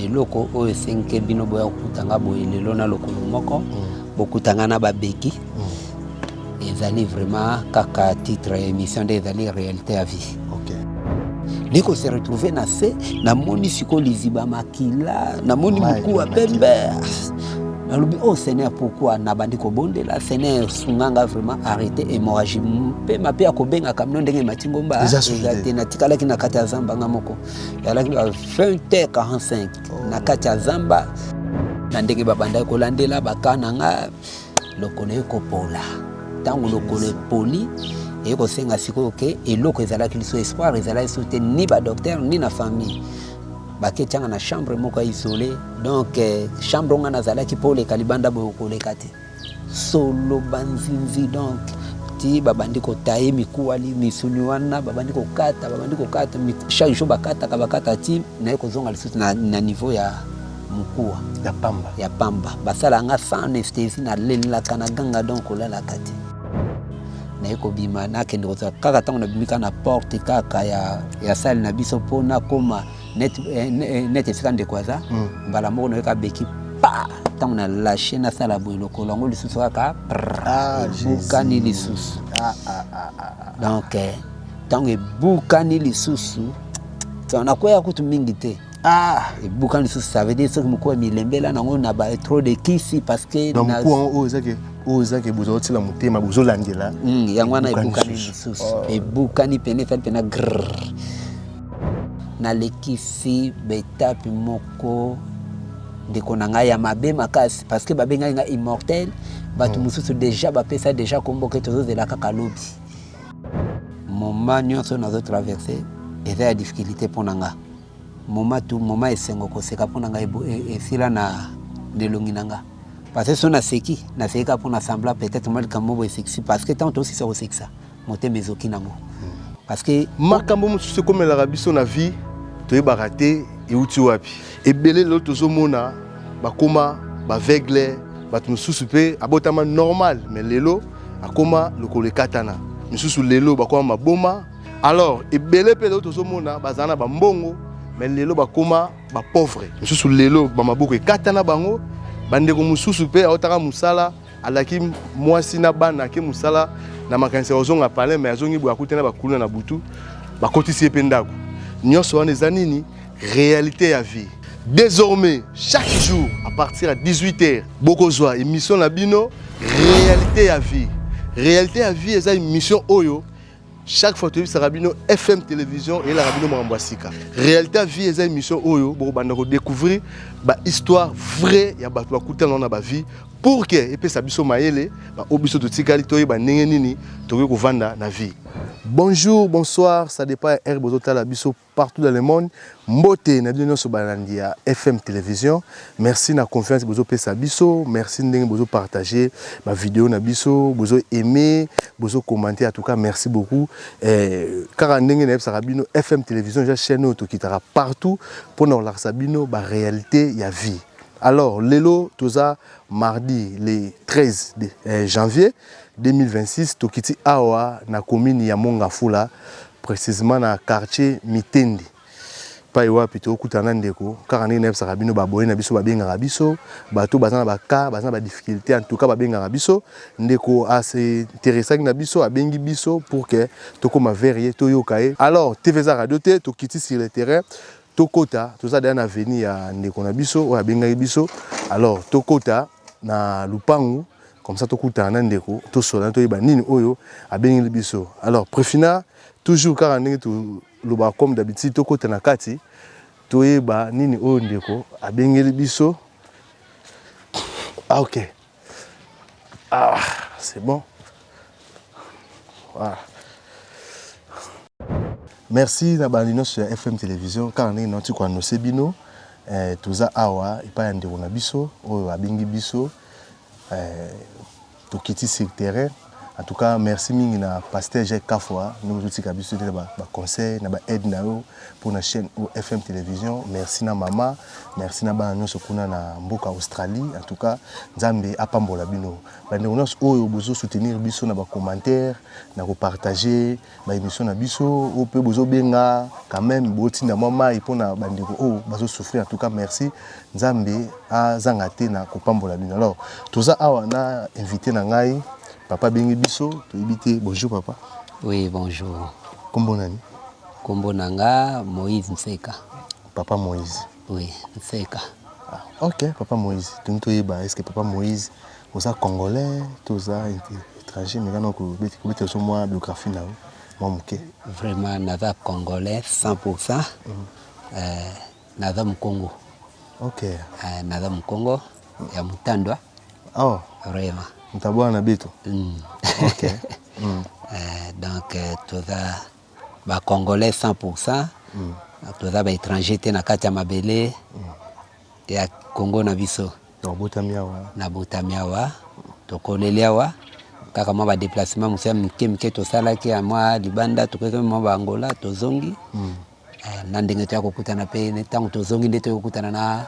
eloko oyo esenke bino boya kokuta nga boye lelo na lokolo moko mm. bokuta nga na babeki mm. ezali vraiment kaka titre ya émission nde ezali réalité ya vie nde ko se retrouve na se namoni sikoyo liziba makila namoni mokuwa pembe nalobi oh seigneur pourquoi nabandi kobondela seigneur sunga nga vraiment arrete hémorragie mpe mape ya kobengaka mino ndenge emati ngomba eza te natikalaki na kati ya zamba nga moko ezalaki ba 20h45 na kati ya zamba na ndenge babandaki kolandela baka na nga lokolo ekopola ntango lokolo epoli eye kosenga sikoyo ke eloko ezalaki liso espoir ezalaki so te ni badoktere ni na famille baketianga na chambre moko ya isole donc eh, chambre onga nazalaki mpo oleka libanda boye okoleka te Solo ba nzinzi donc ti babandi kotaye mikuwa li misuni wana babandi kokata babandi kokata chaque jour bakataka bakata ti naye kozonga lisusu na, na niveau ya mokuwa ya pamba ya pamba basala nga sans anesthésie na lelaka na ganga donc kolalaka te naye kobima nakende kozala kaka ntango nabimi kaka na porte kaka ya, ya sale na biso mpo nakoma net eh, eh, net esika ndeko aza hmm. mbala moko nayoka abeki pa ntango na lashe nasala boye lokolo yango lisusu kaka ah, ebukani lisusu ah, ah, donc eh, ntango ebukani lisusu nakwea kutu mingi te ah ebukani lisusu ça veut dire soki mokuu ya milembela nango na ba trop de kisi parce que donc mokuu yango oyo ezaki oyo ezaki bozali otila motema bozolandela hmm, yango wana ebukani lisusu oh. ebukani pene fali mpena grrr Naleki fi betape moko ndeko na ngai ya mabe makasi parce que babengaki ngai immortel bato hmm. mosusu deja bapesa deja kombo ke tozozela kaka lobi moma nyonso nazotraverse eza ya difficulté mpo na nga moma tu moma esengo koseka mpo na ngai e, esila na lelongi na nga parce que so naseki nasekaka mpo na sembla peut-être mwa likambo moko esekisi parce que ntango tosisa kosekisa motema ezoki nango parce que makambo mosusu ekomelaka biso na vie toyebaka te euti wapi ebele lelo tozomona bakoma baveugle bato mosusu mpe abotama normal mais lelo akoma lokolo ekatana misusu lelo bakoma maboma alors ebele mpe lelo tozomona bazala na bambongo mais lelo bakoma bapauvre misusu lelo bamaboko ekatana bango bandeko mosusu mpe aotaka mosala alaki mwasi na bana ake mosala na makanisi ya kozonga palin mai azongi boye akuti na bakuluna na butu bakotisi ye mpe ndako nyonso wana eza nini réalité ya vie désormais chaque jour à partir ya 18 heures bokozwa émission na bino réalité ya vie réalité ya vie eza émission oyo chaque fois toyebisaka bino fm télévision eyelaka bino makambo ya sika réalité ya vie eza émission oyo bokobanda kodécouvrir bahistoire vrai ya bato bakutana na bavie pour ke epesa biso mayele baoyo biso totikali toyeba ndenge nini tokoki kovanda na vie bonjour bonsoir ça dépend ya heure bozotala biso partout dans le monde mbote na bino nionso balandi ya FM television merci na confiance bozo pesa biso merci ndenge bozo partager ba video na biso bozo aimer bozo commenter en tout cas merci beaucoup eh, kaka ndenge na yebisaka bino FM television ja chaîne oyo tokitaka partout pona kolakisa bino ba réalité ya vie alors lelo toza mardi le 13 de, eh, janvier 2026 tokiti awa na commune ya Mongafula precisement na quartier Mitendi epayi wapi tokutana na ndeko kaka ndenge nayebisaka bino ba abonnes na biso babengaka biso bato baza na ba cas baza na ba difficultés en tout cas babengaka biso ndeko a se interessaki na biso abengi biso pour que tokoma vers ye toyoka ye alors TV eza radio te tokiti sur le terrain tokota toza deja na avenue ya ndeko na biso oyo abengaki biso alors tokota na lupangu Comme ça tokutana na ndeko tosolola toyeba nini oyo abengeli biso. Alors Prefina toujours kaka ndenge tolobaka comme d'habitude tokota na kati toyeba nini oyo ndeko abengeli biso. Ah ok. Ah, c'est bon. Voilà. Merci na bandi nyonso ya FM Television kaka ndenge nauti koannonce bino eh, toza awa epai ya ndeko na biso oyo abengi biso Tokiti sur terrain en tout cas merci mingi na pasteur Jacques Kafua ndenge ozo tika biso te na ba conseils na ba aides na yo pona chaine oyo FM television merci na mama merci na bana nionso kuna na mboka Australie en tout cas Nzambe apambola bino ba ndeko nionso oyo bozo soutenir biso na ba commentaires na ko partager ba emission na biso oyo pe bozo benga quand meme botinda mwa mayi pona ba ndeko oyo bazo souffrir en tout cas merci nzambe azanga te na kopambola bino alors toza awa na invite na ngai papa abengi biso toyebi te bonjour papa oui bonjour kombo nani kombo na nga moïse nseka papa moïse Oui nseka. Ah, ok papa Moïse tungi toyeba est-ce que papa Moïse oza congolais to oza étranger mais kana kobeti kobeti oso mwa biographie na yo mwa moke vraiment naza congolais 100% mm. euh, naza mukongo ok euh, naza mukongo ya mutandwa oh vraiment mutabwana na beto mm. ok mm. euh, donc euh, toza ba congolais 100 pour 100 toza ba etranger te na kati ya mabele ya congo na biso nabotami awa tokoleli awa kaka mwa ba deplacement mosusu ya mike mike tosalaki ya mwa libanda tokoki mwa ba angola tozongi na ndenge toya kokutana mpe ntango tozongi nde toyokutana na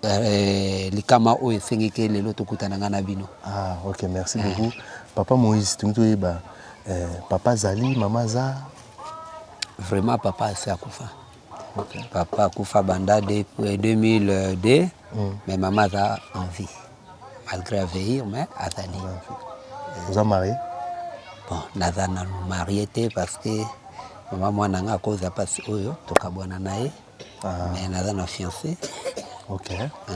Eh likama oyo esengi ke lelo tokutana nga na bino. Ah ok merci beaucoup papa Moïse tolingi toyeba eh, papa azali mama aza? Vraiment papa asi akufa okay. Papa akufa banda de, 2002 mm. mais mama aza en vie malgré aveir mais azali. Oza marie? Bon naza nanu marie te parce que mama mwana nga akoza mpasi oyo tokabwana na ye Ah. Mais naza na fiancé. OK. Ah.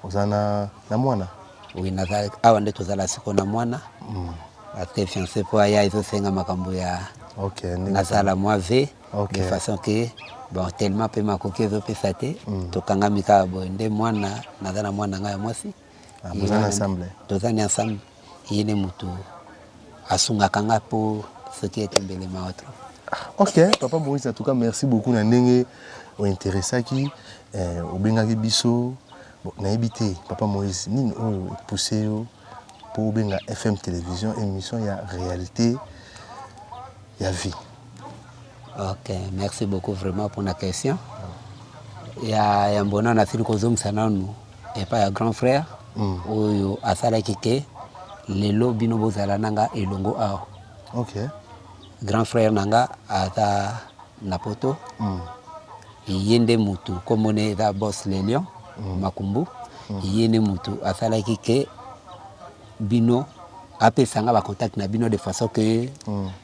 Oza na na mwana? Oui, naza awa nde tozala siko na mwana. Mm. Parce que fiancé po aya ezosenga makambo ya OK. Nasala mwa ve okay. de façon que bon tellement pe makoki ezopesa te mm. tokangami kaka boye nde mwana naza na mwana ngai ya mwasi Ah, boza na ensemble? Toza na ensemble. Ye nde mutu asungaka nga po soki ete mbele mawa trop. Ok, papa Moïse, en tout cas, merci beaucoup na ndenge ointeressaki eh, obengaki biso bon, nayebi te papa Moïse nini oyo epousse yo mpo obenga FM télévision émission ya réalité ya vie Ok merci beaucoup vraiment pour la question ya yambo nano asili kozongisa nanu epai ya grand frère mm. oyo asalaki ke lelo bino bozala na nga elongo awa okay. grand frère na nga aza na poto mm. ye nde motu komona eza bos lelion mm. makumbu mm. ye nde motu asalaki ke bino apesa nga ba contact na bino de façon que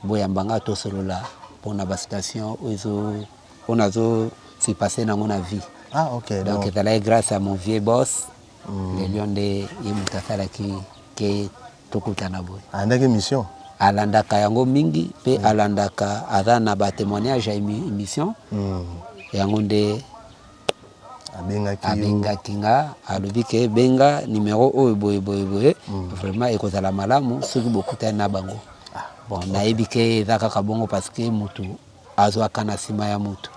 boyamba nga tosolola pona ba situation oyo ezo oyo nazo se passer nango na vie Ah, ok, donc donc- ezalaki grâce à mon vieux boss le lion nde ye moto asalaki ke tokutana boye ayandaki émission alandaka yango mingi mpe alandaka aza na ba témoignage ya émi- émission yango nde abengaki nga alobi ke benga numero oyo boye boye boye mm. vraiment ekozala malamu soki bokutani na bango ah, bon nayebi ke eza kaka bongo parce que mutu azwaka na nsima ya mutu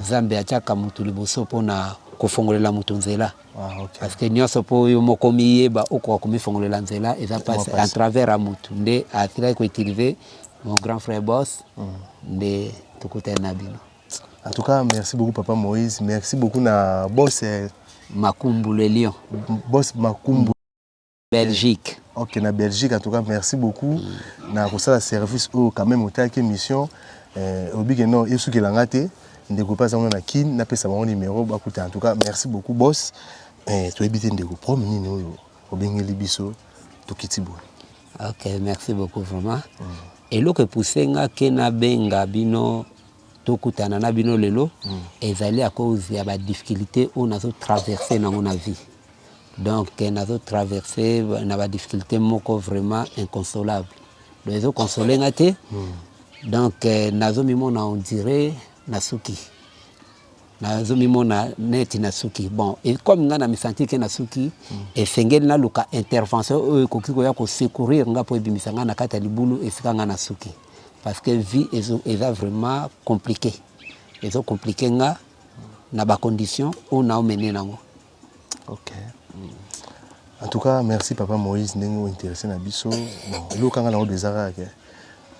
nzambe atiaka mutu liboso mpona kofongolela moto nzela ah, okay. parce que nyonso mpo yo moko miyeba okoka komifongolela nzela eza pasi en travers ya motu nde asilaki koutilize mon grand frère boss mm. nde tokutani na bino En tout cas merci beaucoup papa Moïse merci beaucoup na boss euh, Makumbu le lion. Boss Makumbu Belgique. Ok na Belgique en tout cas merci beaucoup mm. na kosala service oyo oh, quand même otaki émission euh, obike non esukela nga te ndeko mpe aza ngo na kin napesa bango numero bakuta en tout cas merci beaucoup boss eh, toyebi te ndeko problème nini oyo obengeli biso tokiti boye ok merci beaucoup vraiment mm. eloko epuse nga ke nabenga bino tokutana na bino lelo ezali à cause ya ba difficultés oyo nazo traverser nango na vie donc nazo traverser na ba difficultés moko vraiment inconsolable donc ezo console nga te donc nazo mimona on dirait nasuki Nazo mimona neti na suki bon et comme nga na mi sentir que na suki mm. esengeli na luka intervention oyo ekoki koya ko secourir nga po ebimisa nga na kati ya libulu esika nga na suki parce que vie ezo eza vraiment compliqué ezo compliqué nga na ba conditions oyo na omene nango En tout cas, merci papa Moïse ndenge o interesse na biso. Bon, eloko kanga na obi ezaka ke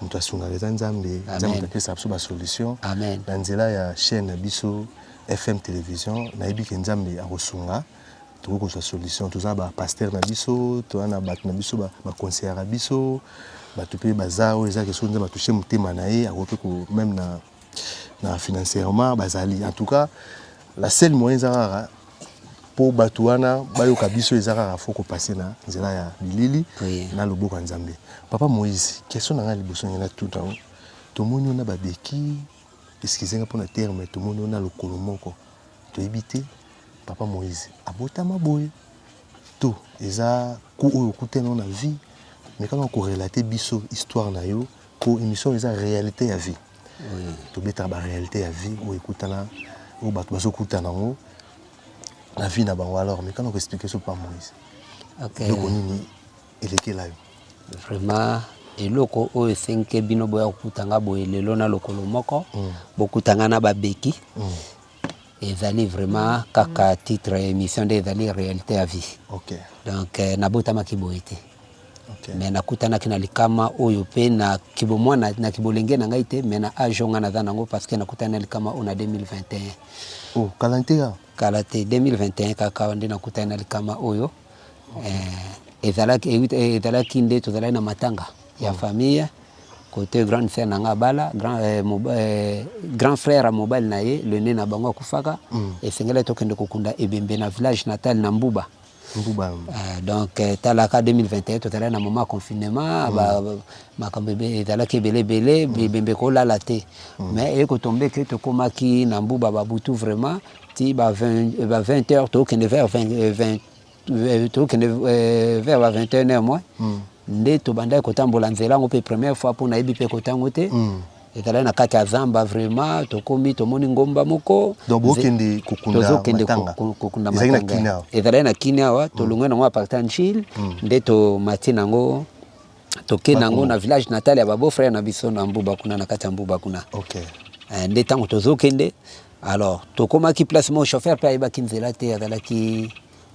moto asungaka eza Nzambe, Nzambe moto apesa biso ba solution. Amen. Na nzela ya chaîne na biso FM television, nayebi ke Nzambe akosunga toko kozwa solution. Toza na ba pasteur na biso, toza na batu na biso ba conseillaka biso, batu pe baza oyo eza ke soki Nzambe a touche motema na ye akoki pe ko meme na na financierement bazali en tout cas la seule moyen eza kaka mpo bato wana bayoka biso eza kaka fo kopase na nzela ya bilili oui. na loboko ya nzambe papa moïse question na ngai liboso ngai natuta yango tomoni yo na babeki eskize nga mpo na terme tomoni yo na lokolo moko toyebi te papa moïse abotama boye to eza ku oyo okutani na vie mekaka korelate biso histoire na yo Po emission eza realite ya vie. To betaka ba realite ya vie oyo ekutana oyo batu bazo kutana nango na vie na bango alors meka nako expliquer biso papa Moïse. Okay. Eloko nini elekela yo? Vraiment eloko oyo esenke bino boya kokuta nga boye lelo na lokolo moko mm. bokuta nga na babeki mm. Ezali vraiment kaka titre ya emission nde ezali realite ya vie. Okay. Donc euh, nabotamaki boye te. Okay. Mais nakutanaki na likama oyo pe na kibomwana na kibolenge na ngai te mais na age oyo ngai naza nango parce que nakutani na likama oyo na 2021. Oh, kala te ya? Kala te 2021 kaka nde nakutani na likama oyo. Eh, ezalaki eh, eh, ezalaki nde tozalaki na matanga ya mm. famille kote grande sœur na nga abala grand, eh, moba, eh, grand frère ya mobali na ye le ne na bango akufaka mm. esengelaki tokende kokunda ebembe na village natal na mbuba mbuba uh, donc eh, talaka 2021 tozalaki na moma confinement mm. makambo ezalaki ebele ebele mm. ebembe kolala te mm. mais ekotombe ke tokomaki na mbuba babutu vraiment ti ba 20 ba 20 heures tokende vers 20 20 tokende vers ba 21 heures moins mm. nde tobandaki kotambola nzela yango mpe première fois mpo nayebi mpe kota yango te mm. ezalaki na kati ya zamba vraiment tokomi tomoni ngomba moko tozokende kokunda matanga ezalaki na kini awa tolongwe nango aparta njile nde tomati nango toke nango na village natal ya babo frère na biso na mbuba kuna na kati ya mbuba kuna okay. Eh, nde ntango tozokende alors tokomaki place moko chauffeur mpe ayebaki nzela te azalaki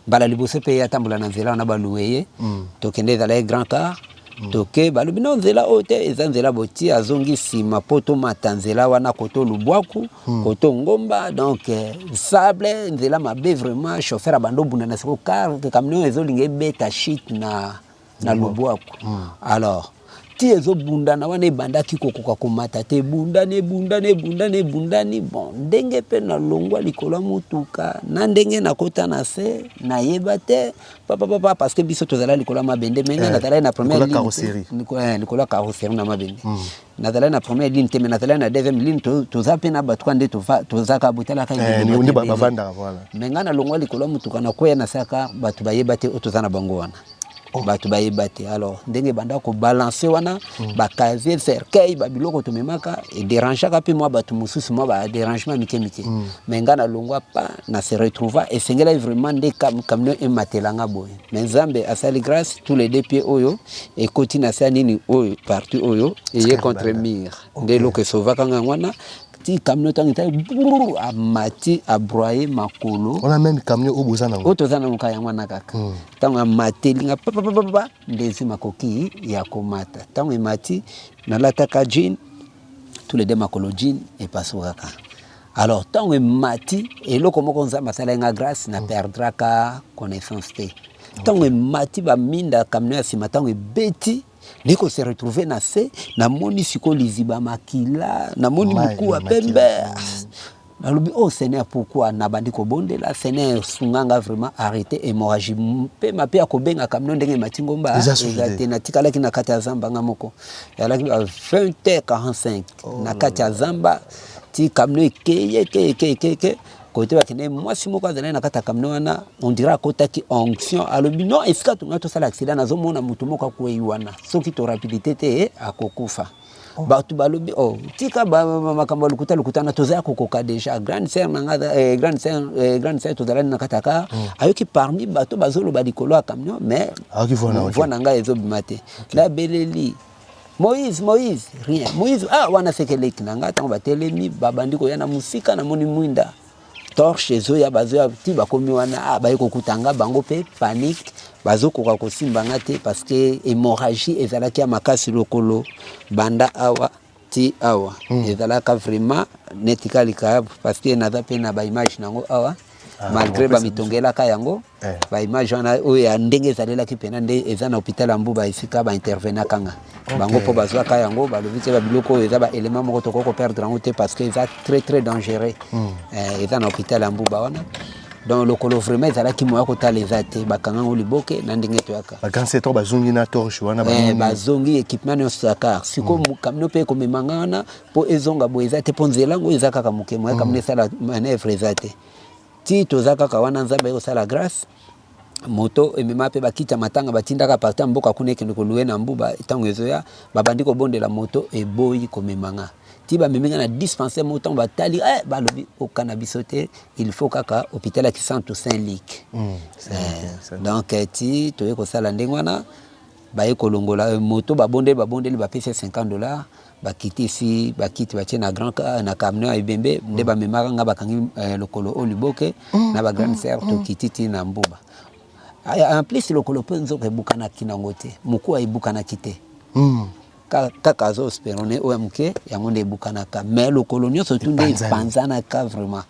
mbala liboso mpe ye atambola na nzela wana baluwe ye mm. tokende ezalaki grand car mm. toke balobi no nzela oyo te eza nzela boti azongi nsima mpo tomata nzela wana koto lubwaku mm. koto ngomba donc eh, sable nzela mabe vraiment chauffeur abanda obunda na siko car camion ezolinga ebeta chute na na lubwaku alors ti ezobundana wana ebandaki kokoka komata te ebundani ebundani ebundani ebundani bon ndenge mpe nalongwa likolo ya motuka na ndenge nakota na se nayeba te papapapa parce que biso tozala likolo ya mabende mende eh, nazalaki na première likolo ya carrosserie eh, na mabende mm. nazalaki na première ligne te mais nazalaki na deuxième ligne toza mpe na bato ka nde tozaka botalaka eh, mais ngai nalongwa likolo ya motuka nakweya na saka bato bayeba te oyo toza na bango wana oh. bato bayeba te alors ndenge ebanda kobalanse wana hmm. bacasier cercueil babiloko tomemaka ederangeaka mpe mwa bato mosusu mwa baderangement mike mike hmm. mais ngai nalongwa pa na se retrouva esengelaki vraiment nde camion ematela nga boye Mais Nzambe asali grâce tous les deux pieds oyo ekoti na sa nini oyo parti oyo eye contre mur nde eloko esovaka ngai wana ti camion ntango etali amati abroye makolo wana meme camion oyo boza nango oyo toza nango kaka yango wana kaka ntango hmm. amateli nga papapapapa nde ezwi makoki ya komata ntango emati nalataka jean tous les deux makolo jean epasukaka Alors tango emati eloko moko nzambe asalaki nga grace na perdraka connaissance te ntango emati baminda camion ya nsima ntango ebeti nde ko se retrouver na se namoni sikoyo liziba makila namoni mokuwa pembe nalobi oh seigneur pourquoi nabandi kobondela seigneur sunganga vraiment arrete hémorragie mpe mape ya kobenga kamino ndenge emati ngomba eza te natikalaki na kati ya zamba nga moko yalaki ba 20 h 45 na kati ya zamba ti kamino ekei ekei ekei ekei ekei kote bakende mwasi moko azalaki na kati ya kamino wana ondira akotaki onction alobi no esika tuna tosala aksida nazomona moto moko akwei wana soki to rapidite te akokufa oh. bato balobi o oh, tika makambo ya lokuta lokuta na tozala kokoka deja grande sœur na nga eh, grande sœur eh, grande sœur tozalani na kati ya kar mm. ayoki parmi bato bazoloba likolo ya camion mais voix na ngai ezobima te nabeleli Moïse, Moïse, rien. Moïse, ah, wana seke leki na ngai ntango batelemi babandi koya na mosika, namoni mwinda torche ezoya bazoya ti bakomi wana ah, baye kokuta nga bango mpe panique bazokoka kosimba nga te parce que hémorragie ezalaki ya makasi lokolo banda awa ti awa mm. ezalaka vraiment neti kalikayabu parce que naza mpe na baimage nango awa Ah, malgré bamitongelaka yango eh. baimage wana oyo ya ndenge ezalelaki mpena nde eza na hôpital ya mbuba esika baintervenaka nga bango mpo bazwaka yango balobi te babiloko oyo eza baélément moko tokoki koperdre yango te parce que eza très très dangereux hmm. eh, eza na hôpital ya mbuba wana donc lokolo vraiment ezalaki moya kotala eza te bakanga yango liboke na ndenge toyaka bagansetor bazongi na torche wana eh, bazongi équipement nyonso ya kar sikoyo hmm. kamino mpe ekomemanga wana Po ezonga boye eza te po nzela ngo eza kaka muke moyen kamuna esala manoeuvre eza te tii toza kaka wana nzambe aye kosala grace moto emema pe bakiti ya matanga batindaka parti ya mboka kuna ekende kolue na mbuba ntango ezoya babandi kobondela moto eboyi komema nga ti bamemi nga na dispensaire moko ntango batali eh, balobi okana biso te il faut kaka hôpital ya kisantu saint lik mm, eh, donc eh, ti toye kosala ndenge wana baye kolongola eh, moto babondeli babondeli bapesi 50 dollars bakitisi bakiti batie na grand na camion ya ebembe nde mm. bamemaka nga bakangi eh, lokolo o liboke mm, na ba grande mm, sœur mm, tokiti ti na mbuba en plus lokolo mpe nzoka ebukanaki nango te mokuwa ebukanaki te mm. kaka azo sperone oyo ya moke yango nde ebukanaka mais lokolo nyonso tu nde epanzanaka vraiment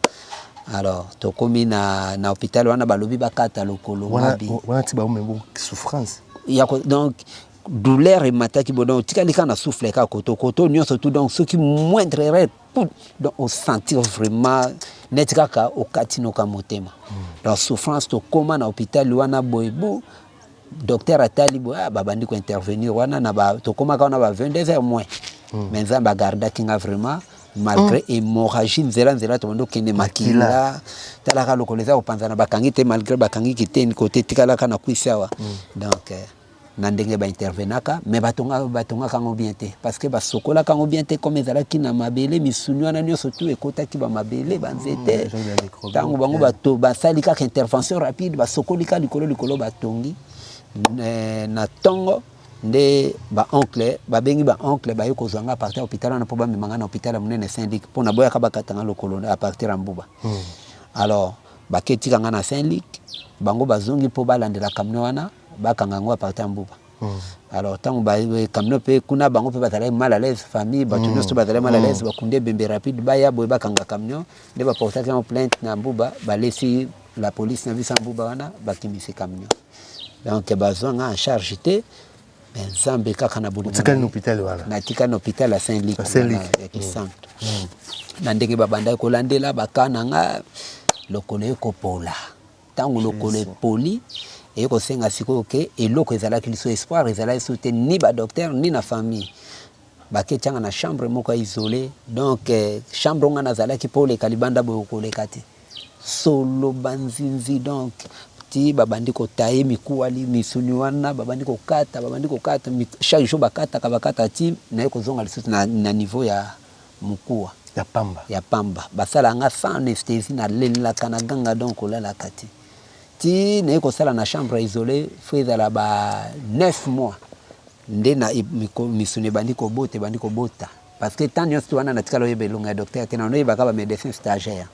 alors tokomi na, na hôpital wana balobi bakata lokolo wana ti baomebo souffrance donc douleur emataki bo donc otikali kaka na souffle kaka koto koto nyonso tout donc soki moindre erreur tout donc osentir vraiment neti kaka okati noka motema donc souffrance tokóma na hôpital wana boye bo docteur atali boye ah, babandi kointervenir wana na ba, tokómaka wana ba 22 heures moins hmm. mais nzambe agardaki nga vraiment malgré mm. hémorragie nzela nzela tobandi okende makila talaka lokola eza kopanzana bakangi te malgré bakangi kiteni kote tikalaka na kwisi awa mm. donc euh, na ndenge ba intervenaka mais batonga batongaka yango bien te parce que basokolaka yango bien te comme ezalaki na mabele misuni wana nyonso tu ekotaki ba mabele ba nzete mm, ntango bango bato basali kaka intervention rapide basokoli ka likolo likolo batongi eh, na ntongo nde baoncle babengi baoncle baye kozwa nga apartir ya hôpital wana mpo bamema nga na hôpital ya monene saint luc mpo naboyaka bakata nga lokolo apartir ya mbuba mm. alors baketika nga na saint luc bango bazongi mpo balandela kamne wana bakanga yango apartir ya mbuba alors ntango camion mpe kuna bango mpe bazalaki mal à l'aise famille bato mm. nyonso bazalaki mal à mm. l'aise bakundi ebembe rapide baya boye bakanga camion nde baportaki yango plainte na mbuba balesi la police na biso ya mbuba wana bakimisi camion donc bazwanga en charge te mais nzambe kaka na bolingnatikali na hôpital ya saint lik ya kisantu mm. na ndenge babandaki kolandela bakana nga lokolo ekopola Tango lokolo epoli, eye kosenga sikoyo ke eloko ezalaki lisu espoir ezala lisu te ni ba docteur ni na famille bake tianga na chambre moko ya isole donc chambre nga nazalaki po oleka libanda boye okoleka te solo banzinzi donc ti babandi kotaye mikuwa misuni wana babandi kokata babandi kokata chaque jour bakataka bakata ti naye kozonga lisusu na, na niveau ya mukuwa ya pamba ya pamba basalaka nga sans anesthesie na lelaka na ganga donc kolalaka te ti naye kosala na chambre isole fo ezala ba 9 mois nde na misuni ebandi kobota ebandi kobota parce que temps nyonso wana natikala oyeba elonga ya docteur te nano oyebaka ba médecin stagiaire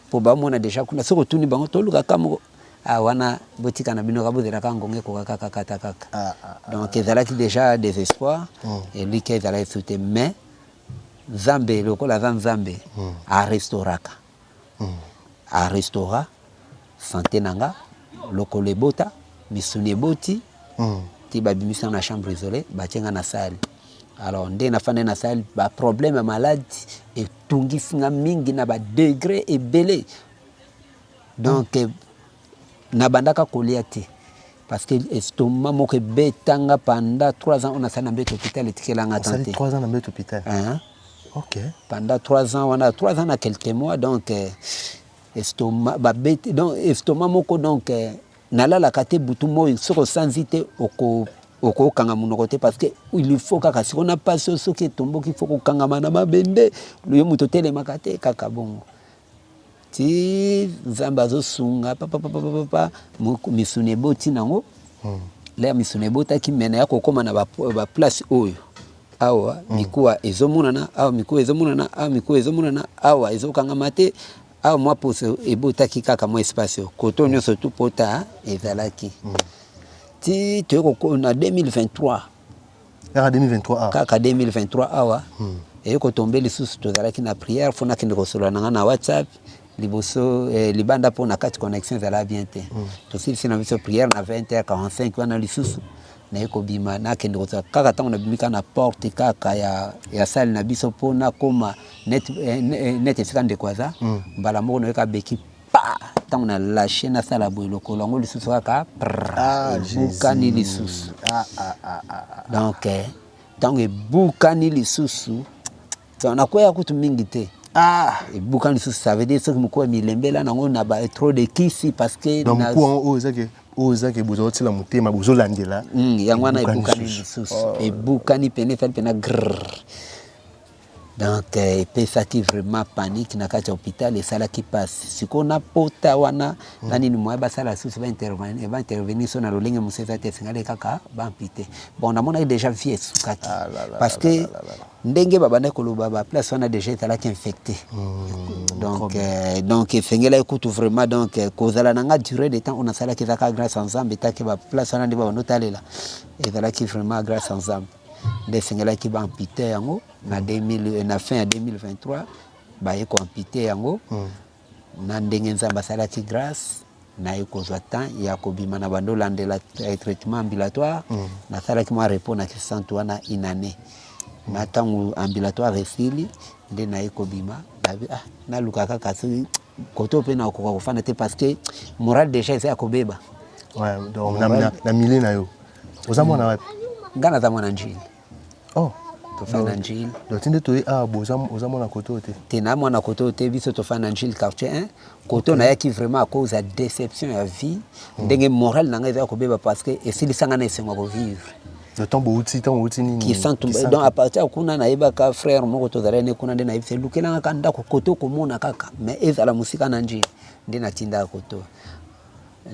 mpo bamona deja kuna soki otuni bango toluka ka moko ah, wana botika na bino ka bozela kaka ngonga ekoka kaka kata kaka ah, ah, ah, donc ezalaki deja désespoir mm. elika ezalaki su te mais Nzambe lokola aza Nzambe a restauraka a restaura sante na nga lokolo ebota misuni eboti ti ba bimisi nga na chambre isole batie nga na salle alors nde na fandi na salle ba problème ya malade etungisi nga mingi na ba degre ebele donc Na bandaka kolia te parce que estomac moko ebeta nga pendant trois ans oyo nasali na mbeto hopital etikela nga temps te. Trois ans na mbeto hopital? Hein. Ok. Pendant trois ans wana trois ans na quelques mois donc euh, estomac babeti donc estomac moko donc euh, nalalaka te butu moi soki osanzi te oko okokanga monoko te parce que il faut kaka siko na pasi oyo soki etomboki faut kokangama na mabende yo moto otelemaka te kaka bongo Tii nzambe azo sunga papa papa papa misuni eboti nango hmm. lea misuni ebotaki mena ya kokoma na ba, ba place oyo awa hmm. mikuwa ezomonana awa mikuwa ezomonana awa mikuwa ezomonana awa ezokangama te awa mwa poso ebotaki kaka mwa espace oyo koto hmm. nyonso tu pota ezalaki hmm. ti toyeko na 2023 Kaka 2023 awa. Kaka 2023 awa. Hmm. Eye kotombe lisusu tozalaki na prière fo nakende kosolola na ngai na WhatsApp liboso eh, libanda mpo na kati connexion ezala bien te. Hmm. Tosilisi na biso prière na 20h45 wana lisusu naye kobima nakende kozwa kaka ntango nabimi kaka na porte kaka ya, ya sale na biso mpo nakoma net, eh, eh, net esika ndeko aza hmm. mbala moko nayoka beki pa ntango na lashe nasala boye lokolo yango lisusu kaka ah, ebukani lisusu ah, ah, donc eh, ntango ebukani lisusu nakwea kutu mingi te Ah. ebuka lisusu ça veut dire soki mokuu ya milembela nango na ba trop de kisi parce que donc mokuu yango oyo ezaki oyo ezaki bozali otila motema bozolandela hmm, yango wana ebukani lisusu oh. ebukani pene fali pena grrr Donc epesaki vraiment panique na kati ya hopital esalaki pasi sikoyo na pota wana na nini moyen basala susu ba intervenir ba intervenir so na lolenge mosusu eza te esengeli kaka ba ampute bon namonaki deja vie esukaki parce que ndenge babandaki koloba ba place wana deja ezalaki infecte donc euh, donc esengelaki kutu vraiment donc euh, kozala na nga durée de temps oyo nasalaki ezalaka grâce ya nzambe etake ba place wana nde babanda otalela ezalaki vraiment grâce ya nzambe nde esengelaki ba ampute yango na 2000 na fin ya 2023 baye ko ampute yango na ndenge Nzambe asalaki grâce naye kozwa temps ya kobima na bando landela traitement ambulatoire nasalaki mwa repos na kisantu wana une année na ntango ambulatoire esili nde naye kobima nabi ah naluka kaka soki Kote oyo pe na koka ko fanda te parce que morale dejà eza ya ko beba. Ouais, donc na, na, na milieu na yo. Oza mwana wapi? Nga naza mwana Njili. Oh. tofanda njili donc tinde toye awa ah, boza oza mwana kote oyo te te na mwana kote oyo te biso tofanda njili quartier 1 kote oyo nayaki vraiment à cause ya déception ya vie hmm. ndenge morale na ngai eza kobeba parce que esilisa ngai na esengo ya kovivre Ntango bouti, ntango outi nini? Kisantu. Donc à partir ya kuna nayebaka frère moko tozalaki ne kuna nde nayebi se lukelanga ka ndako kote okomona kaka mais ezala mosika na njili nde natindaka koto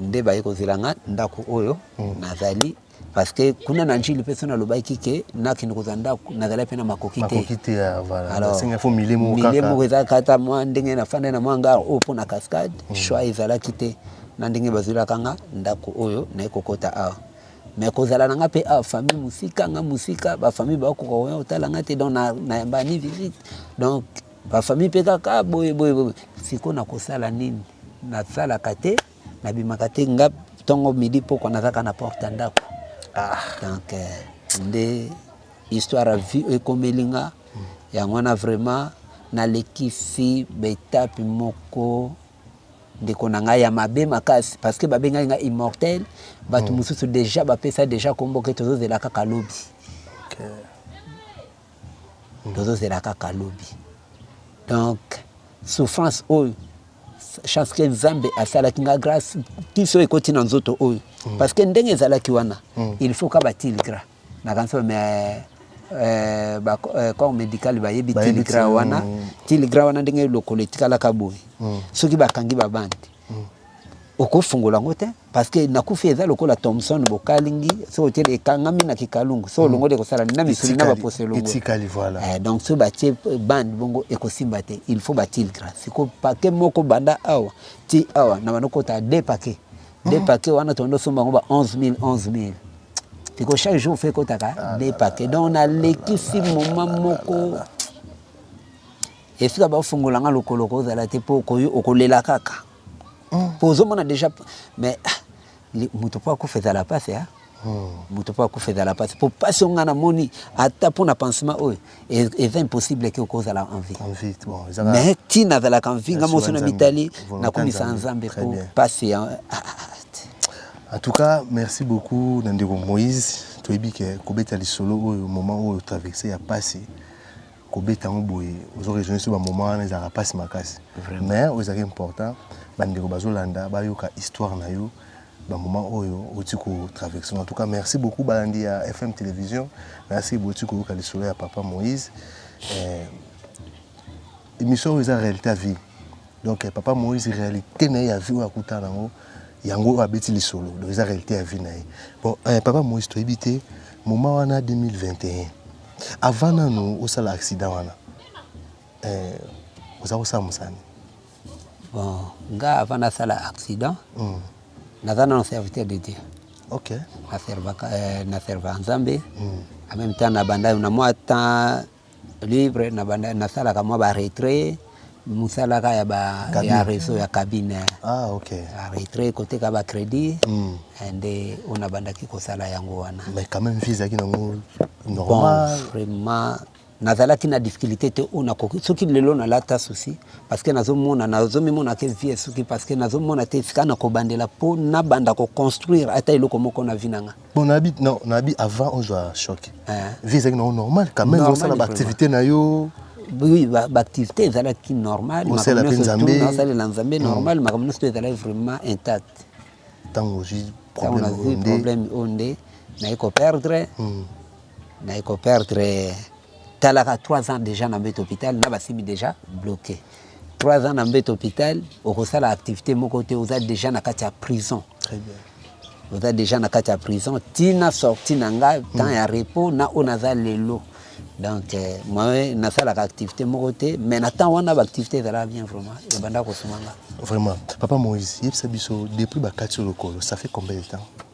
nde baye kozela nga ndako oyo mm. nazali parce que kuna na njili mpe so nalobaki ke nakende kozwa ndako nazalaki mpe na makoki te milie moko ezalaka kata mwa ndenge nafandai na mwa ngar oyo mpo na cascade mm. choix ezalaki te na ndenge bazwelaka nga ndako oyo naye kokota awa mais kozala na nga pe awa famille musika nga musika ba famille ba koka koya kotala nga te donc na na ba ni visite donc ba famille pe kaka boye boye boye siko na kosala nini na salaka te na bimaka te nga tongo midi poko na kaka na porte ya ndako ah. donc euh, nde histoire ya vie ekomeli nga yango wana vraiment nalekisi betape moko ndeko na ngai ya mabe makasi parce que babengaki ngai immortel bato mm. mosusu deja bapesa deja kombo ke tozozela kaka lobi okay. mm. tozozela kaka lobi donc souffrance oyo chance ke nzambe asalaki nga grâce kiso ekoti na nzoto oyo mm. parce que ndenge ezalaki wana mm. il faut ka batile gras Nakanisi oyo mais Euh, ba euh, corps médical bayebi tiligra wana tiligra wana ndenge lokolo etikalaka boye mm. soki bakangi babandi mm. okofungola yango te parce que nakufi eza lokola thomson bokalingi soki otyeli ekangami na kikalungu soki mm. olongoli ekosala na misuni na baposo elongo eh, donc soki batie bande bongo ekosimba te il faut batiligra siko pake moko banda awa ti awa na banokota de pake Des paquets wana tondo somba ngo ba 11000 11000. Tiko chaque jour fait kotaka ah des paquets. Donc na leki si moment moko esika bafungola nga lokolo kozala te mpo okoyi okolela kaka mpo mm. ozomona déjà mais ah, moto mpo akufa ezala mpasi a ah. mutu po akufa ezala pasi po pasi oyo nga na moni ata pona pansement oyo eza impossible ke okozala en vie mais ti nazalaka en vie nga moso na mitali nakumisa nzambe po pasi ya en tout cas merci beaucoup na ndeko moïse toyebi ke kobeta lisolo oyo moment oyo traverse ya pasi kobeta yango boye ozo raisonne so bamoment wana ezalaka pasi makasi mais oyo ezalaka important bandeko bazolanda bayoka histoire na yo ba moment oyo oti ko traverse en tout cas merci beaucoup balandi ya FM television na se boti ko yoka lisolo ya papa Moïse eh, émission oyo eza réalité ya vie donc eh, papa Moïse réalité na ye ya vie oyo akutana nango yango oyo abeti lisolo donc eza réalité ya vie na ye bon eh, papa Moïse toyebi te moment wana 2021 avant nanu osala accident wana eh, oza kosala mosani Bon, nga avant na sala accident, mm. naza nano serviteur de Dieu. Ok. Na serva euh, na serva Nzambe. Mm. En même temps na banda na moi temps libre na banda na sala ka moi ba retrait musala ka ya ba cabine. ya réseau ya cabine. Ah ok. Ba retrait côté ka ba crédit. Mm. And eh, on a banda ki ko sala yango wana. Mais quand même visa ki nango normal. Bon, vraiment Nazalaki na difficulite te oyo nakoki soki lelo nalata souci parce que nazomona nazomimona ke vie esuki parce que nazomona te esika nakobandela mpo nabanda koconstruire ata eloko moko na vie na nga bon nabi non nabi avant ozwa choc eh. vie ezalaki nango normal quand même osala baactivité na yo oui baactivité ezalaki normal osalela mpe nzambe nasalela nzambe mm. normal makambo nyonso to ezalaki vraiment intact ntango ozwi problème oyo nde naye koperdre mm. Naye ko perdre talaka trois ans dejà na mbeto hopital na basimi dejà bloque trois ans na mbeto hopital okosala activite moko te oza dejà na kati ya prison Très bien. oza dejà na kati ya prison tina sorti na nga temps ya repos na oyo naza lelo donc euh, moi nasalaka activité moko te mais na temps wana baactivité ezalaka bien vraiment ebanda kosuma nga Vraiment. Papa Moïse, yebisa biso depuis bakati yo lokolo, ça fait combien de temps?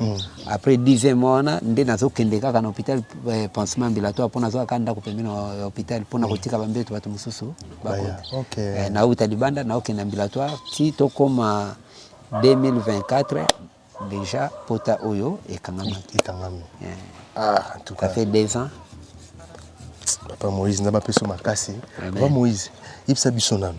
Hmm. Après 10 ans wana nde nazokende kaka na hôpital eh, pansement ambulatoire mpo nazwaka kaka ndako pembeni ya hôpital mpo na hmm. kotika bambeto bato mosusu bakota eh, nauta libanda naokende ambulatoire ti tokóma 2024 déjà pota oyo ekangamaki ekangami eh. ah, en tout cas ça fait deux ans papa moïse nzambe apeso makasi papa moïse yebisa biso nano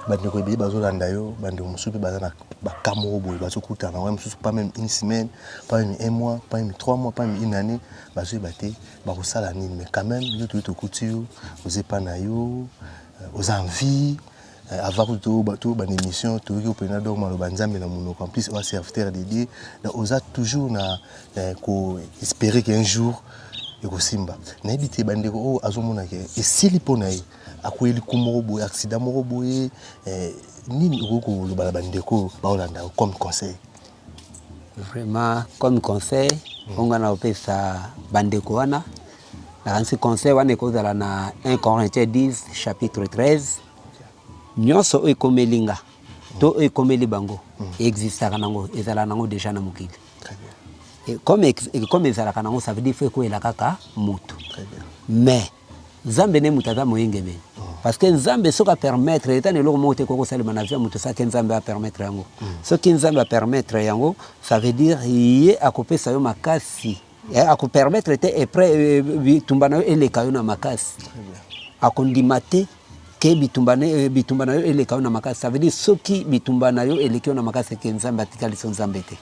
bandeko ebele bazolanda yo bandeko mosusu mpe baza na baka moko boye bazokutana wana mosusu pas meme une semaine pas meme un mois pas meme trois mois pas meme une année bazoyeba te bakosala nini mais quand même yo toyei tokuti yo oza epa na yo euh, oza en vie euh, avant kutu tobanda émission toyoki opena donc maloba nzambe na monoko en plus oa serviteur de dieu donc oza toujours na euh, ko espérer qu'un jour ekosimba nayebi te bandeko oyo azomonaka esili mpo na ye Akueyi liku moko boye accident moko boye eh, nini okoki koloba na bandeko oyo baolanda yo comme conseil? Vraiment comme conseil oyo nga nakopesa bandeko wana nakanisi conseil wana ekozala na 1 Corinthiens 10 chapitre 13 nyonso oyo ekomeli nga to oyo ekomeli bango existaka nango ezala nango deja na mokili Très bien, Et comme ex- comme ezalaka nango ça veut dire faut ekwela kaka mutu très bien. mais Nzambe ne mutu aza moyengebene parce que Nzambe soki a permettre eza na eloko moko te ekoki kosalema na vie ya mutu sans que Nzambe a permettre yango. Soki Nzambe a permettre yango ça veut dire ye akopesa yo makasi eh, ako permettre te epre bitumba na yo eleka yo na makasi, akondima te ke bitumba, ne, bitumba na yo eleka yo na makasi. Ça veut dire soki bitumba na yo eleki yo na makasi, eke Nzambe atikali so Nzambe te,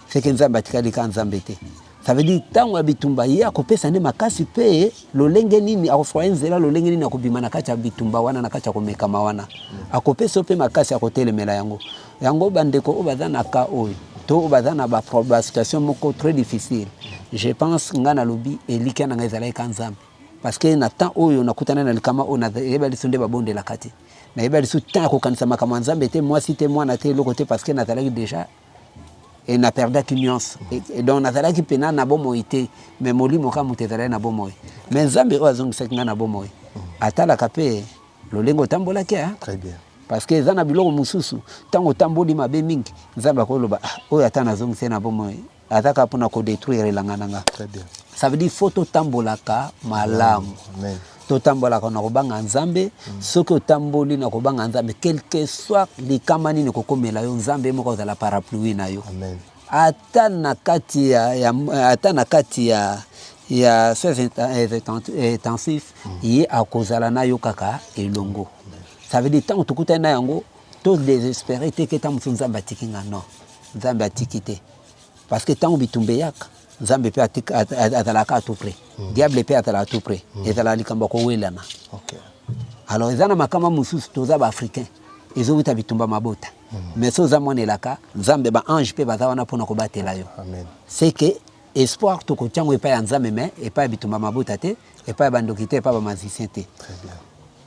seke Nzambe atikali ka Nzambe te. Ça veut dire tango ya bitumba ye akopesa nde makasi mpe lolenge nini akofraye nzela lolenge nini akobima na kati ya bitumba wana na kati ya komekama wana akopesa yo mpe makasi akotelemela yango yango bandeko oyo baza na ka oyo to oyo baza na basituation moko très difficile je pense ngai nalobi elikya na ngai ezalaki ka nzambe parce que na temps oyo nakutana na likama oyo nayeba liso nde babondelaka te nayeba liso temps ya kokanisa makambo ya nzambe te mwasi te mwana te eloko te parce que nazalaki déjà et na perdaki nionso et donc nazalaki pena na bomoi te mais molimo kaka moto ezalaki na bomoi mais nzambe oyo azongisaki ngai na bomoi atalaka mpe lolenge otambolaki hein? très bien parce que eza na biloko mosusu ntango otamboli mabe mingi nzambe akoloba ah, oyo ata nazongisi na bomoi aza kaka mpona kodetruire elanga na nga ça veut dire faut totambolaka malamu totambolaka na kobanga nzambe mm. soki otamboli na kobanga nzambe quelque soit likama nini kokomela yo nzambe moko azala parapluie na yo Amen. ata na kati ya, ya, ata na kati ya ya soins intensif mm. ye akozala na yo kaka elongo ça veut dire ntango tokutani na yango to desespere te ke ntango mosusu nzambe atiki nga non nzambe atiki te Parce que tango bitumba eyaka nzambe pe azalaka a tout près mm. diable pe azalaka tout près mm. ezalaka likambo ya kowelana okay. alors eza na makama mosusu toza baafricain ezowuta bitumba mabota mm. mais so oza mwana elaka nzambe baange mpe baza wana mpona kobatela yo c'est que espoir tokotya yango epai ya nzambe mais epai ya bitumba mabota te epai ya bandoki te epai ya bamazisien te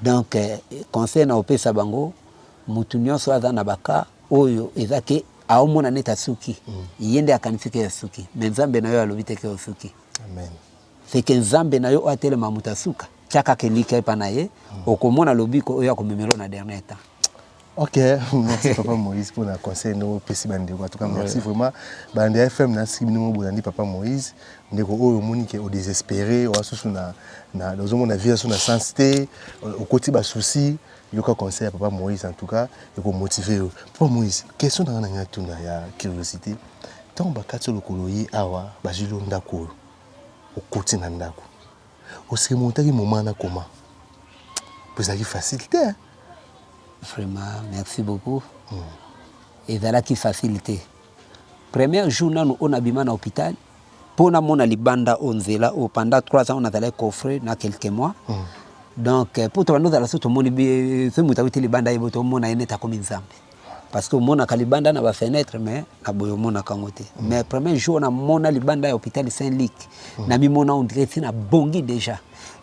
donc eh, conseil na opesa bango motu nyonso aza na baka oyo eza ke Aomona neti asuki ye nde akanisi ke asuki mais nzambe na yo alobi te ke osuki Amen. c'est que nzambe na yo oyo atelema moto ya suka tia kaka elikya epa na ye okomona lobiko oyo akomemela yo na dernier temps. Ok, merci papa Moïse pour na conseil ndenge opesi ba ndeko. En tout cas, merci vraiment. Ba ndeko FM na siki bino bolandi papa Moïse. Ndeko oyo omoni ke o desespere, oasusu na na ozo mona vie asu na sens te, okoti ba soucis. Yoka conseil ya papa Moïse en tout cas eko motiver yo. Papa Moïse, question nanga nalingi natuna ya curiosite, tango bakati yo lokolo oye awa bazwili yo ndaku oyo, okoti na ndaku o se remontaki moment wana comment? Po ezalaki facile te hein. Vraiment merci beaucoup, ezalaki facile te, premier jour nanu oyo nabima na hopital po na mona libanda oyo nzela oyo pendant 3 ans on azalaki coffre na quelques mois donc po tobanda ozala so tomoni soki moto awuti libanda ayebo tomona ye neti akomi nzambe parce que omonaka libanda na ba fenêtre mais na boye omonaka yango te mm. mais premier jour namona libanda ya hôpital saint luc mm. namimona ondire ti nabongi déjà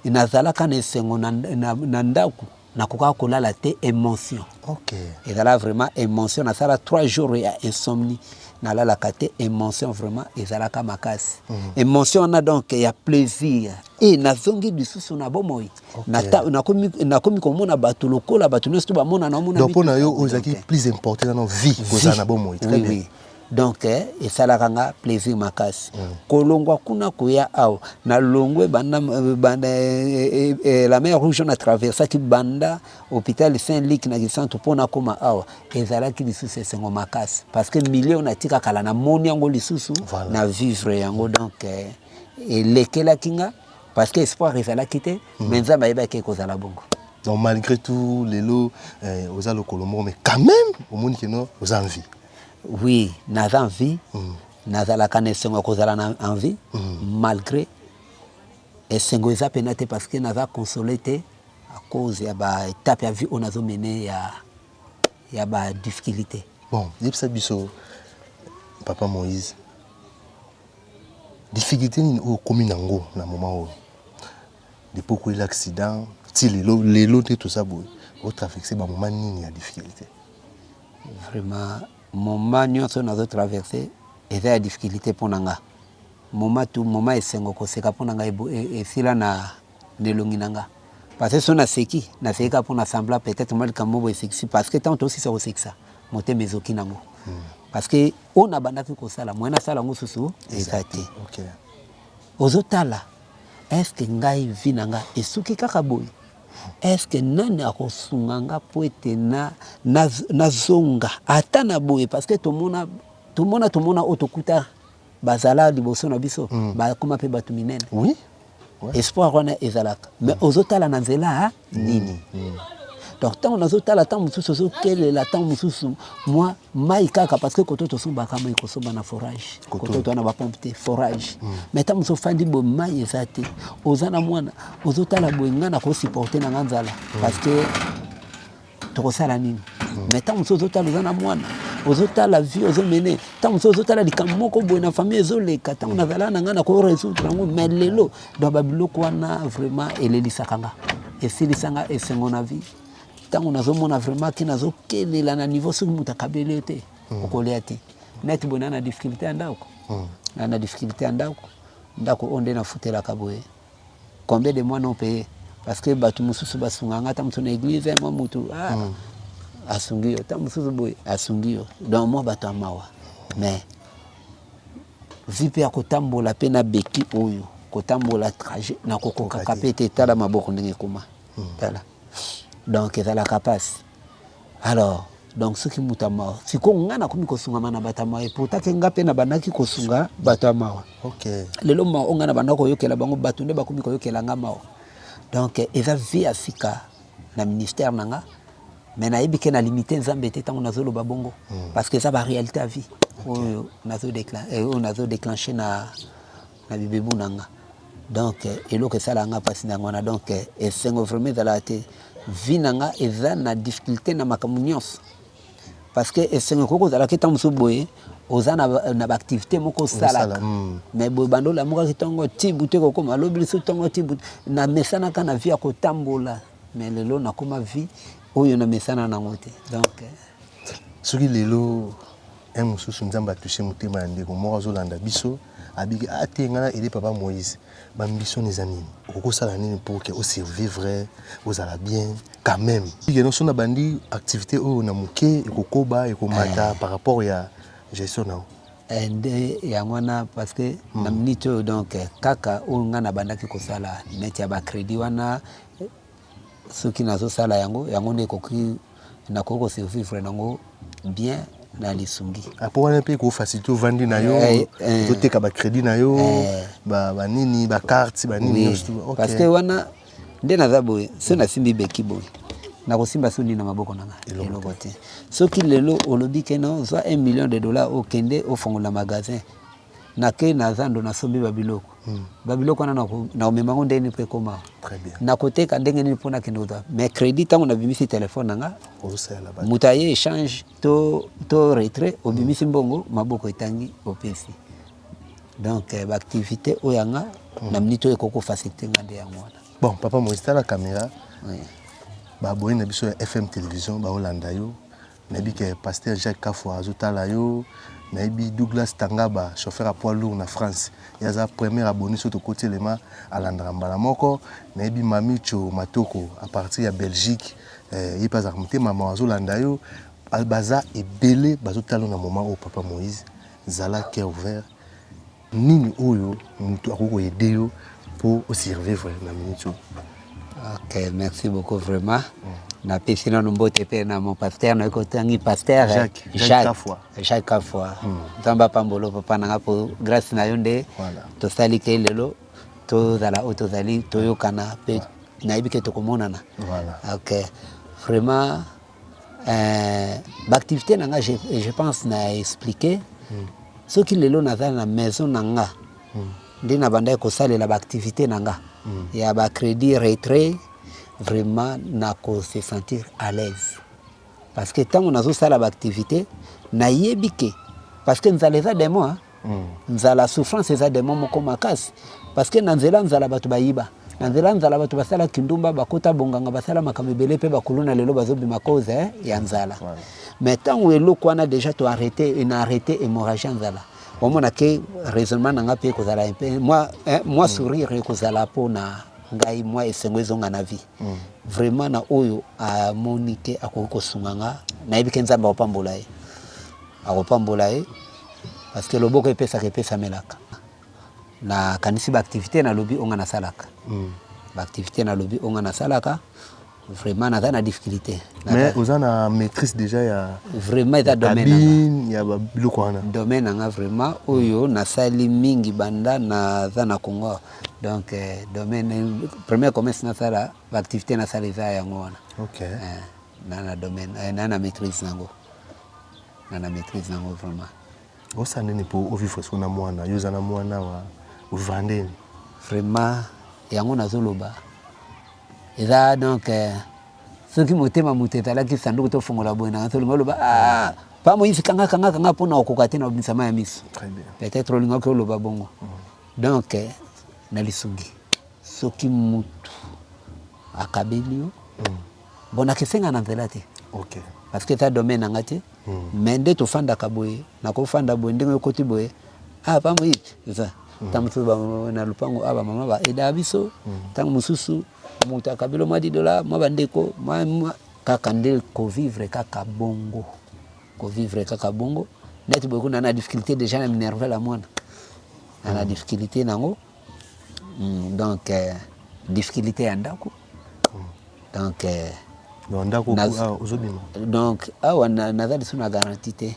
nazalaka na esengo na, na, na ndako nakokaka kolala te emotion okay. ezala vraiment emotion nasala 3 jours ya insomnie nalalaka te emotion vraiment ezalaka makasi mm -hmm. emotion wana donc ya plaisir e nazongi lisusu na bomoi okay. nakomi na komona bato lokola bato nyonso to bamona naomona mpo na yo oyo ezalaki plus important nano vie kozala na bomoi oui, oui. Donc esalaka nga plaisir makasi kolongwa kuna koya awa na longwe banda banda la mer rouge na traversaki banda hopital Saint Luc na Kisantu mpo nakoma awa ezalaki lisusu esengo makasi parce que milieu oyo natika kala namoni yango lisusu na vivre yango donc elekelaki nga parce que espoir ezalaki te mais Nzambe ayebaki ekozala bongo. Donc malgre tout lelo oza lokolo moko mais quand meme omoni que non oza en vie? Oui naza en vie nazalaka na esengo ya kozala na en vie malgre esengo eza pena te parce que naza console te à cause ya ba étape ya vie oyo nazo mene ya ya ba difficulté. Bon yebisa biso papa Moïse difficulté nini oyo okomi nango na moment oyo depuis okweli accident ti lelo lelo nde toza boye o traverse ba moment nini ya difficulté. Vraiment moment nionso oyo nazo traverse eza ya difficulite pona nga moment tout moment esengo koseka pona nga esila na na elongi na nga parce que soki naseki naseki kaka pona semblant peut etre mwa likambo moko boye esekisi parce que tango tosilisa kosekisa motema ezoki nango parce que oyo nabandaki kosala moyen nasala yango susu eza te ozotala est ce que ngai vie na nga esuki kaka boye Est-ce que nani akosunga nga po ete na nazonga ata na boye parce que tomona tomona tomona oyo tokuta bazala liboso na biso mm. bakoma mpe bato minene oui. ouais. espoir wana ezalaka mais mm. ozotala na nzela mm. nini mm. Mm. donc ntango nazotala ntango mosusu ozokelela ntango mosusu mwa mai kaka parce que koto tosombaka mai kosomba na forage koto toa na bapompe te forage mm. mais ntango mosusu ofandi bo mai eza te oza na mwana ozotala boye nga nakosupporte na nga nzala mm. parce que tokosala nini mm. mais ntango mosusu ozotala oza na mwana ozotala vie ozomene ntango mosusu ozotala likambo moko boye na famille ezoleka ntango nazalaka na ngai nako résoudre yango mais lelo donc babiloko wana vraiment elelisaka nga esilisa nga esengo na vie ntango nazomona vraiment ke nazokelela na niveau soki moto akabeli yo te mm. okolia te neti boye na na difficulté ya ndako na na difficulté ya ndako ndako oyo nde nafutelaka boye combien de mois non paye parce que batu mususu basunga nga ta mutu na église hein, moi mutu ah, mm. asungi yo ta mususu boye asungi yo donc moi batu amawa mais vi mpe ya kotambola mpe na beki oyo kotambola trajet na kokokaka mpe te tala maboko ndenge ekoma mm. tala donc ezalaka pasi alors donc soki moto ya mawa sikoyo ngai nakomi kosungama na bato ya mawa epota ke ngai mpe nabandaki kosunga bato ya mawa okay. lelo mawa oyo ngai nabanda koyokela bango bato nde bakomi koyokela ngai mawa donc eza vie ya sika na ministère na ngai mais nayebi ke na limite nzambe te ntango nazoloba bongo hmm. parce que eza baréalité ya vie oyo nazo déclenche na na bibebu na nga donc eloko esala nga pasi na yango wana donc esengo vraiment ezalaka te vie na nga eza na difficulté na makambo nyonso parce que esengo ekoki kozala ke ntango mosusu boye oza na, na baactivité moko osalaka mm. mais boye banda olamukaki ntongo ti butu ekokoma lobi lisusu ntongo ti butu namesanaka na vie ya kotambola mais lelo nakoma vie oyo namesana nango te donc soki lelo Heure mususu nzambe a touche motema ya ndeko moko azo landa biso abiki ah te nga na aide papa moise ba mbisoni eza nini okoki osala nini pour que o survivre ozala bien quand meme bige no so na bandi activite oyo na moke ekokoba ekomata par rapport ya gestion na yo Eh, nde yango wana parce que na minute oyo donc eh, kaka oyo ngai nabandaki kosala neti ya bacredit wana eh, soki nazosala yango yango nde ekoki nakoki ko survivre nango bien na lisungi ah, mpo wana mpe ekofacilite ovandi na yo eh, eh. ozoteka bacrédit na yo eh. banini bacarte banini nyonso parce que wana nde naza boye so nasimbi beki boye nakosimba so nini na maboko na ngai eloko te soki lelo olobi kena ozwa 1 million de dollar okende ofongola magasin Nakei na zando, nasombi babiloko. Babiloko wana nakomema yango ndenge nini mpo ekoma awa? Nakoteka ndenge nini mpo nakende kozwa? Mais credit, ntango nabimisi telefone na nga, moto aye echange to retrait, obimisi mbongo, maboko etangi, opesi. Donc eh, baaktivite oyo yanga hmm. na minute oyo ekoki kofasilite nga nde yango wana. Bon, papa Moïse, tala kamera. Baboyi na biso ya FM Television baolanda yo Nayebi que pasteur Jacques Kafwa azo tala yo, nayebi Douglas Tangaba chauffeur ya poids lourd na France ye aza premier abonne soki tokoti elema alandaka mbala moko, nayebi Mamitsho Matoko à partir ya Belgique ye mpe azalaka motema mawa azo landa yo, baza ebele bazo tala yo na moment oyo papa Moïse zala cœur ouvert. Nini oyo mutu akoki ko aider yo po o survivre na minute oyo? Ok, merci beaucoup vraiment. Na pesi nanu mbote pe na mon pasteur na ko tangi pasteur Jacques Kafwa. Jacques Kafwa. Nzambe apambola papa na nga po grâce na yo nde tosali ke lelo tozala oyo tozali toyokana pe nayebi ke tokomonana. Ok, vraiment Euh, ba activité na nga je, je pense na expliquer mm. soki lelo naza na maison na nga mm. nde nabandaki kosalela ba activité na nga mm. ya ba crédit retrait vraiment nako se sentir à l'aise parce que ntango nazosala ba activité nayebi ke parce que nzala eza demo hein? nzala souffrance eza demon moko makasi parce que na nzela nzala bato bayiba na nzela nzala bato basala kindumba bakota bonganga basala makambo ebele mpe bakuluna lelo bazobima cause eh, ya nzala mais ntango eloko wana deja to arrete ena arrete hémorragie ya nzala omona ke raisonnement na ngai mpe ekozala mpe mwa eh, mwa mm. sourire ekozala mpo na ngai mwa esengo ezonga na vie mm. vraiment na oyo amoni te akoki kosunga nga nayebi ke nzambe akopambola ye akopambola ye parce que loboko epesaka epesamelaka na kanisi ba activité na lobi onga na salaka mm. ba activité na lobi onga na salaka vraiment naza na difficulté mais oza na maîtrise déjà ya vraiment eza domaine ya ba biloko wana domaine nanga vraiment oyo mm. nasali mingi banda naza na Congo donc eh, domaine premier commerce nasala ba activité nasala eza yango wana okay. eh, na na domaine eh, na na maîtrise nango nga na maitrise nango vraiment osa nini po o vivre siko na mwana yo oza na mwana wa vrandeni vraiment yango nazoloba eza donc euh, soki motema moto ezalaki sanduku tofongola boye na tolinga oloba ah, pa moyisi kanga kanga kanga mpo na okoka te na obisama ya miso peut-être olingaki oloba bongo mm. donc euh, na lisungi soki motu akabeli yo mm. Bon nakesenga na nzela te. OK. Parce que eza domaine na nga te. Mais nde tofandaka boye, nakofanda boye ndenge okoti boye, ah pa moyi, eza. Tango mosusu ba na lopango awa ba mama ba aidaka biso, tango mosusu moto akabi yo mwa dix dollars, mwa ba ndeko, mwa mwa kaka nde ko vivre kaka bongo. Ko vivre kaka bongo, neti boye kuna na difficulte dejà na minervela mwana. Na na difficulte na ngo. Hum, donc euh, difficulté ya ndako donc euh, Donc ndako Naz- ah, ozobima. donc awa na- naza lisusu na garanti te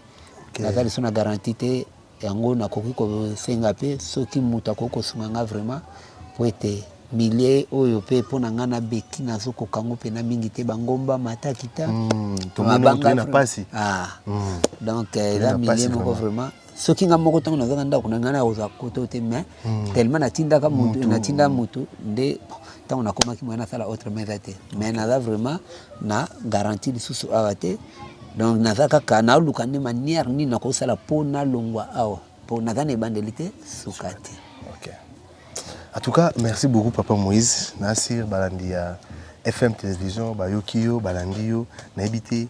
Okay. naza lisusu na garanti te yango nakoki kosenga mpe soki moto akoki kosunga nga vraiment mpo ete milie oyo mpe mpo na ngai nabeki nazokoka yango mpena mingi te bangomba matakita Mm, tomoni oyo toye na pasi. donc eh, Toye eza na pasi milie moko vraiment. vraiment soki nga moko ntango nazaka ndako na ngai nakozwa koto te mais hmm. tellement natindaka mutu natinda mutu nde ntango nakomaki moye nasala autre mesa te mais naza vraiment na garantie lisusu awa te donc naza kaka naluka nde manière nini nakosala mpo nalongwa awa mpo naza na ebandeli te suka te en tout cas merci beaucoup papa moïse nasir balandi ya fm télévision bayoki yo balandi yo nayebi te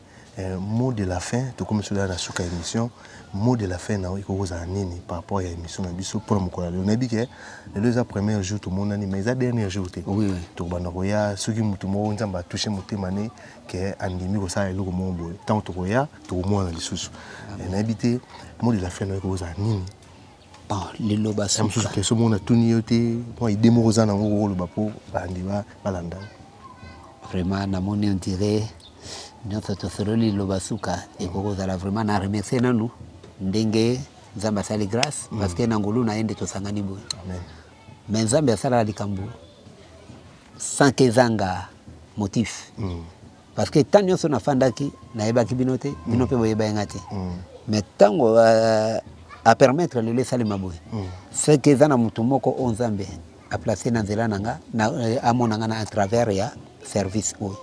Mot de la fin tokomi solo ya na suka ya emission mot de la fin na yo ekoki kozala nini par rapport ya emission na biso pona mokolo ya lelo na yebi ke lelo eza premier jour tomonani mais eza dernier jour te tokobanda koya soki mutu moko nzambe a touche motema ne ke andimi kosala eloko moko boye tango tokoya tokomonana lisusu na yebi te mot de la fin na yo ekoki kozala nini Bon, liloba suka. Ya mosusu question moko natuni yo te mwa idee moko oza nango kokoloba mpo bandi balanda yo vraiment namoni on dirait nyonso tosololi liloba suka ekoki kozala vraiment na remercie nanu ndenge nzambe asali grâce mm. parce que na ngolu na ye nde tosangani boye mais nzambe asalaka likambo sans kezanga motif mm. Parce que temps nionso nafandaki nayebaki bino te, mm. bino mpe boyebaki nga te. Mm. Mais ntango euh, a permettre lelo esalema boye, mm. c'est que eza na moto moko oyo Nzambe a placer na nzela na nga, euh, amona nga na à travers ya service oyo.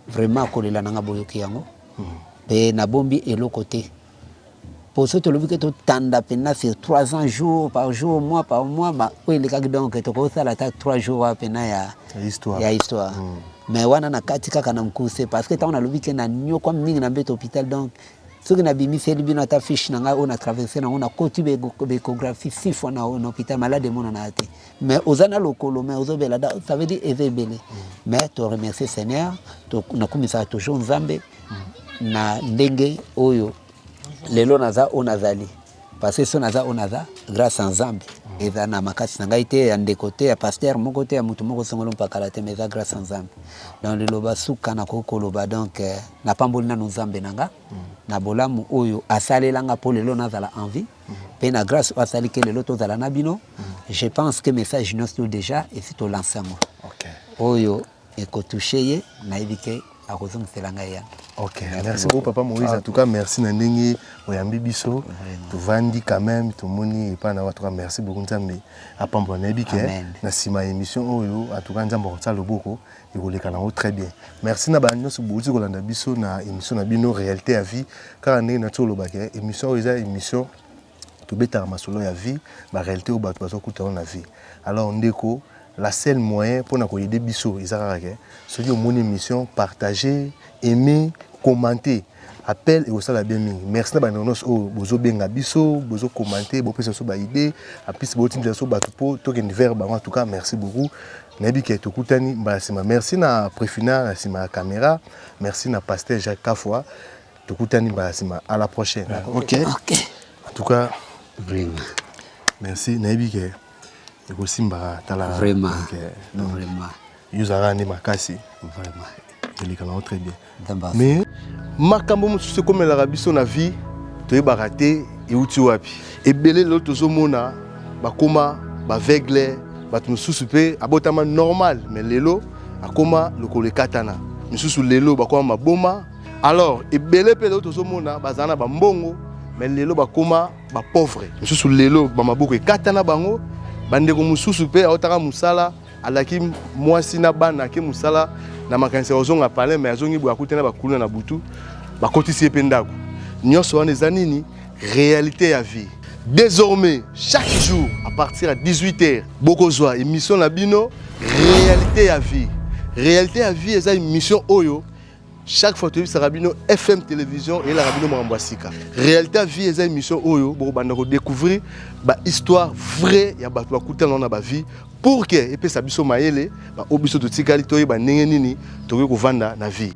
Vraiment kolela na nga boyoki yango. Mpe nabombi eloko te. Poso tolobi ke totanda pena sur 3 ans jour par jour mois par mois ma oyo elekaki donc tokosala ata 3 jours wana pena ya histoire, ya histoire. Mm. mais wana na kati kaka na mokuse parce que ntango nalobi ke na nyokwa mingi na mbeto hôpital donc soki nabimiseli bino ata fiche na ngai oyo na traverse nango nakoti becographie six fois na hôpital malade emonanaka te mais oza na lokolo mais ozobela ça veut dire eza ebele mm. mais to remercie seigneur nakumisaka toujours nzambe na ndenge oyo lelo naza oyo nazali parce que so naza oyo naza grâce à Nzambe eza na makasi na ngai te ya ndeko te ya pasteur moko te ya moto moko songolo mpakala te mais eza grâce à Nzambe donc liloba suka nakoki koloba donc euh, napamboli nanu Nzambe na nga na bolamu oyo asalela nga mpo lelo nazala en vie mpe na grâce oyo asali ke lelo tozala na bino je pense que message nyonso déjà esi tolanse yango oyo Eko touche ye nayebi ke akozongisela ngai yango. Ok, merci beaucoup papa Moïse. En tout cas, merci na ndenge oyambi biso. Tovandi quand même, tomoni epa na watu. Merci beaucoup Nzambe. Apambola na yebi ke na sima emission oyo en tout cas Nzambe akotsa loboko ekoleka na ngo très bien. Merci na ba nionso bouti kolanda biso na emission na bino realite ya vie. Kaka ndenge na tsoloba ke emission oyo eza emission Tobetaka masolo ya vie, ba realite oyo batu bazo kuta yango na vie. Alors ndeko la seule moyen pona ko aider biso eza kaka ke soki omoni emission partager, aimer, commenter appel ekosala bien mingi. Merci na ba ndeko nionso oyo bozo benga biso, bozo commenter, bo pesa biso ba idees, en plus bo tindela biso batu po to kende vers bango. En tout cas merci beaucoup. Nayebi ke tokutani mbala sima. Merci na Prefina na sima ya camera. Merci na Pasteur Jacques Kafua. Tokutani mbala sima à la prochaine. Ah, OK. OK. En tout cas, vraiment. Merci. Nayebi ke ekosimba tala. Vraiment. Euh, non, vraiment. Yuzara ni makasi. Vraiment. Eleka na très bien. Mais makambo mosusu ekomelaka biso na vie toyebaka te euti wapi ebele lelo tozomona bakoma baveugle bato mosusu mpe abotama normal mais lelo akoma lokolo ekatana misusu lelo bakoma maboma alors ebele mpe lelo tozomona bazala na bambongo me lelo bakoma bapauvre mosusu lelo bamaboko ekata na bango bandeko mosusu mpe aotaka mosala alaki mwasi na bana ake mosala na makanisi ya kozonga palin me azongi boye akuti na bakuluna na butu bakotisi ye mpe ndako nyonso wana eza nini réalité ya vie désormais chaque jour à partir ya 18 heures bokozwa émission na bino réalité ya vie réalité ya vie eza émission oyo chaque fois toyebisaka bino fm télévision eyelaka bino makambo ya sika réalité ya vie eza émission oyo bokobanda kodécouvrir bahistoire vrai ya bato bakutana na bavie pour ke epesa biso mayele baoyo biso totikali toyeba ndenge nini tokoki kovanda na vie